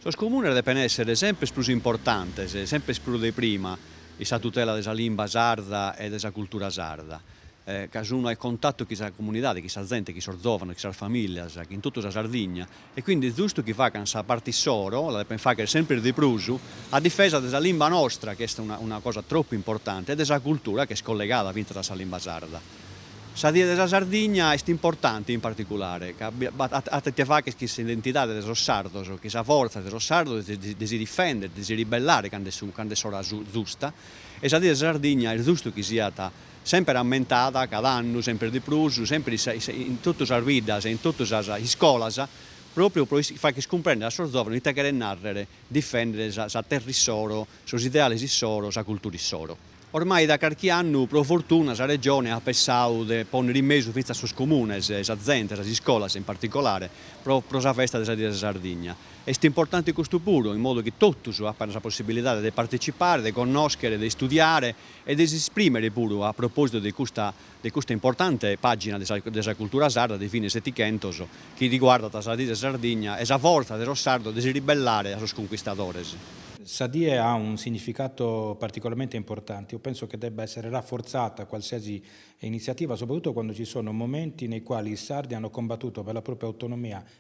Sos comunes depen èssere semper prus importantes, semper prus de prima, in sa tutela de sa limba sarda e de sa cultura sarda, ca sun a cuntatu chin sa comunidade, chin sa zente, chin sos zòvanos, chin sas famìlias, chin totu sa Sardigna, e quindi est zustu chi facant sa parte issoro, la depent faghere semper de prus, a difesa de sa limba nostra chi est una una cosa tropu importante e de sa cultura chi est collegada fintzas a sa limba sarda. Sa Die de sa Sardigna est importante in particulare ca at ite faghere chin s'identidade de sos sardos, chin sa fortza de sos sardos de si de si difendere, de si ribellare cando est su cando est s'ora zusta e sa Die de sa Sardigna est zustu chi siat semper ammentada cada annu semper de prus, semper in totu sas biddas e in totu sas iscolas, pròpriu pro fagher cumprender a sos zòvanos ite cheret nàrrer difender sa terra issoro, sos ideales issoro, sa cultura issoro. Ormai da carchi annu, pro fortuna, sa Regione at pensadu de pònnere in mesu fintzas sos comunes, sa zente, sas iscolas in particolare, pro pro sa festa de sa Die de sa Sardigna. Est importante custu puru, in modu chi totus apan sa possibilidade de partetzipare, de connòschere, de istudiare e de si esprimere puru a propositu de custa de custa importante pagina de sa de sa cultura sarda de fine setichentos chi riguardat sa dì de Sardigna e sa fortza de sos sardos de si ribellare a sos conquistadores. Sa die ha un significato particolarmente importante, io penso che debba essere rafforzata qualsiasi iniziativa, soprattutto quando ci sono momenti nei quali i sardi hanno combattuto per la propria autonomia